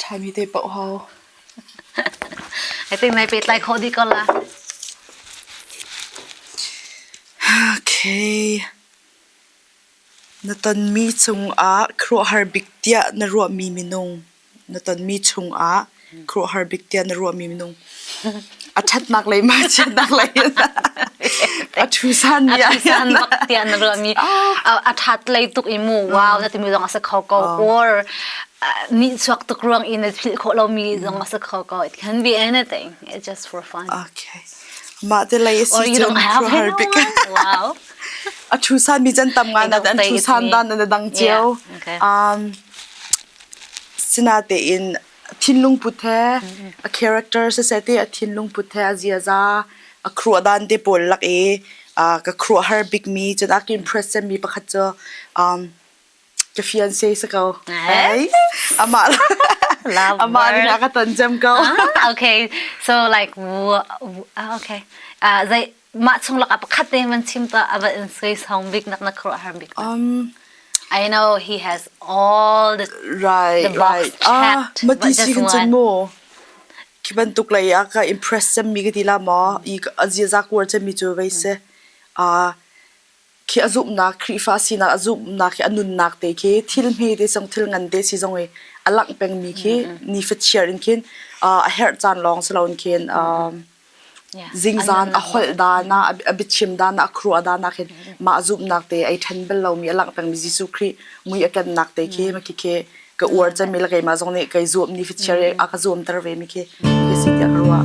Ṭhami te paoh hau. I think nai pehtlai khawh dih ko la. Okay. Na tonmi cungah khuaruahhar bik tiah na ruahmi minung. Na tonmi chungah khuaruahhar bik tiah na ruahmi minung. a ṭhatnak lei ma chiatnak lei in a ṭhusan ni a ṭhusan nak tiah na ruah mi a ṭhat lei tuk i mu wow na timi zong a si kho ko or ni chuak tuk ruang in na philh khawh lo mi zong a si kho ko it can be anything it's just for fun okay mah te lei si cun har bik wow a ṭhusan mi jan tam ngan an ṭhusan dan an dang cio um sina te in a thinlung put he a character siseh ti a thinlung put he a ziaza a kruah dan te pawl lak i uh, ka kruah har bik mi cun a ka impress mi pakhat cu um, ka fiance si ko amah amah nih a ka ton cem ko ah, okay so like okay uh, zei mah chung lakah pakhat te man chim ta a va in sui song bik nak na khuruah har bik um I know he has all the right the right ah mati sigin chun mo ki bantuk lai a ka impress sem mi ka ti la ma i azia za kuar chem mi chu vei se a khi a zumhnak Khrihfa sinak a zumhnak khi a nunnak te khi thil hme te cung thil ngan te si zong i a langh pengmi khi ni fachiar in khin a herh caan lawng si loin khin zingzan a holh dan ah a biachim dan ah a kruah dan ah khin mah zumhnak te ai ṭhen bel lomi a langh pengmi Jesuh Khrih mui a kannak te khi ma khi khi ka uar cemi la keimah zong nih kai zuam ni fachiar a ka zuam ter ve mi khi ka si tiah ka ruah